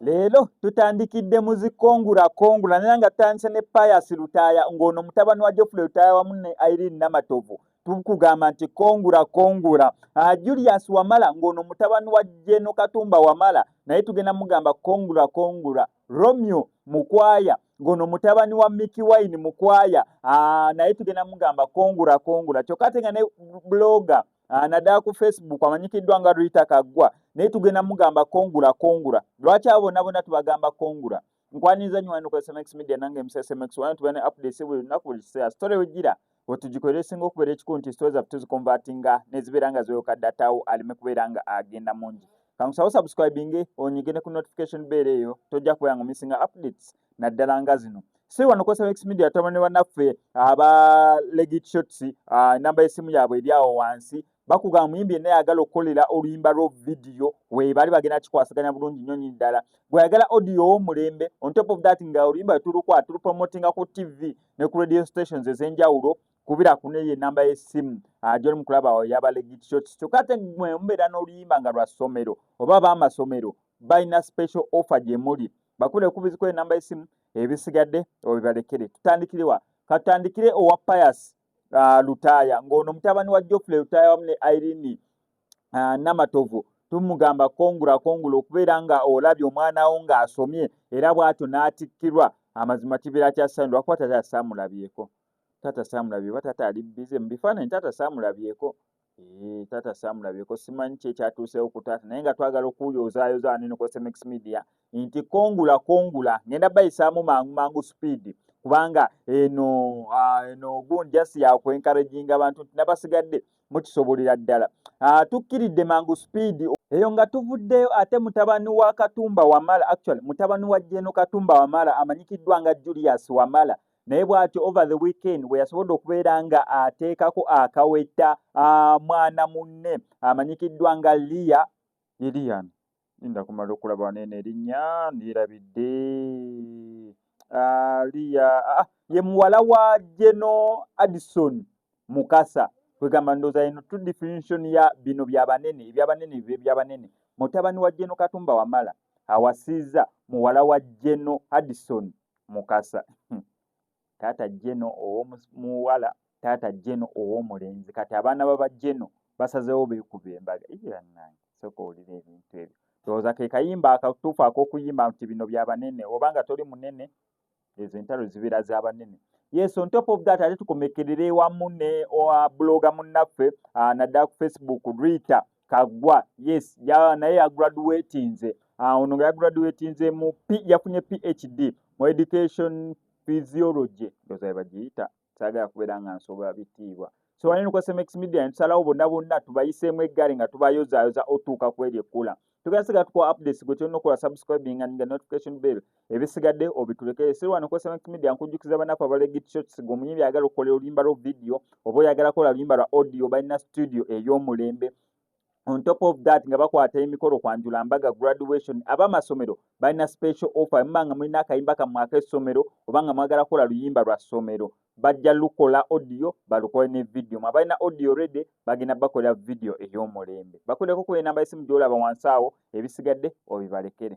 leero tutandikidde mu zikongula kongula naye nga tutandise ne pius lutaaya ng'ono mutabani wa jofule lutaaya wamu ne irene namatovu tukugamba nti kongula kongula ah, julius wamala ng'ono mutabani wa jeno katumba wamala naye tugenda mugamba kongula kongula Romeo Mukwaya ngono mutabani wa Mickey Wine Mukwaya aa ah, naye tugenda mugamba kongura kongura kyokka ate nga ne blogger ah, naddala ku Facebook amanyikiddwa nga Rita Kaggwa naye tugenda mugamba kongura kongura lwaki abo bonna bonna tubagamba kongura nkwaniriza nnyo wano ku SMX Media nange Mrs. SMX wano tubeera ne updates buli lunaku buli kiseera story wejjira wetugikolera esinga okubeera ekikulu nti sitooza tuzikonvatinga nezibeera nga zeyoka datawo aleme kubeera nga agenda mungi kankusawo subscribinge onyigene ku notification beera eyo tojja kubeera nga omisinga updates naddala nga zino si wano kosa x media tama ne banaffe aba legit shots uh, namba y'essimu yaabwe eri awo wansi bakugamba muyimbi yenna yagala okukolera oluyimba lwo vidiyo webaali bagenda kikwasaganya bulungi nnyo nyini ddala gweyagala audio womulembe on top of that nga oluyimba wetulukwaa tulupromotinga ku tv ne ku radio stations ez'enjawulo kubira kuneyo enamba y'essimu ah, gyoli mukulaba awo yabalegityo kyokka ate mwe mubeera n'oluyimba nga lwa ssomero oba baamasomero balina special offer gye muli bakubire kubiziko enamba y'essimu ebisigadde obibalekere tutandikirewa katutandikire owa payasi uh, lutaaya ng'ono mutabani wa jofule lutaaya wamu ne irini uh, ah, namatovu tumugamba kongula kongula okubeera nga olabye omwana wo ng'asomye era bw'atyo n'atikkirwa amazima kibeera kyasaani lwakuba tata saamulabyeko tata saamulabyeko tata ali bize mu bifaananyi tata saamulabyeko Eee, tata Sam labye ko simanyi kye kyatuuse oku tata naye nga twagala okuuyo ozaayo zaani nuko SMX media inti kongula kongula ngenda bayi samu mangu mangu speed kubanga eno uh, eno gun just ya ku encouraging abantu nabasigadde mukisobolera ddala uh, tukkiridde mangu speed eyo nga tuvuddeyo ate mutabani wa katumba wamala actually mutabani wa jeno katumba wamala amanyikiddwa nga Julius wamala naye bwati over the weekend bwe yasobodde okubeera nga ateekako akaweta mwana munne amanyikiddwa nga liya lilian inda kumala okulaba nene erinnya ndirabidde liya ye muwala wa geno addison mukasa kwegamba ndooza eno to definition ya bino byabanene ebyabanene bibe byabanene mutabani wa geno katumba wamala awasiiza muwala wa geno addison mukasa hmm. taata jeno owomuwala taata jeno owomulenzi kati abaana baba jeno basazewo bekuba embaga iyanange soka owulira ebintu ebyo ndowooza ke kayimba akatuufu akokuyimba nti bino bya banene oba nga toli munene ezo entalo zibeera za banene yes on top of that ate tukomekerere wamu ne buloga munnaffe ah, naddala ku facebook rita kagwa yes ya naye ya graduatinze ah, ono nga ya graduatinze mu p yafunye phd mu education physiology ndoza yabagiyita sagala kubeera nga nsobola bitiibwa so wanene kwa smex media ntusalawo bonna bonna tubayiseemu eggale nga tubayozayoza otuuka kweri ekkula tugasiga tukuwa updates gwe tulina okukola subscribing and the notification bell ebisigadde obitulekere si lwano kwesa mec media nkujjukiza banaku abale git shots gwe omuyimbi ayagala okukolera oluyimba lwa vidiyo oba oyagala kola luyimba lwa audio balina studio ey'omulembe on top of that nga bakwata emikolo kwanjula mbaga graduation abamasomero balina special offer muba nga mulina akayimba kammwe ak'essomero oba nga mwagala kukola luyimba lwa ssomero bajja lukola audio balukole ne vidiyo mwe abalina audio redi bagenda bakolera vidiyo ey'omulembe bakuleko ku enamba esimu gy'olaba wansi awo ebisigadde obibalekere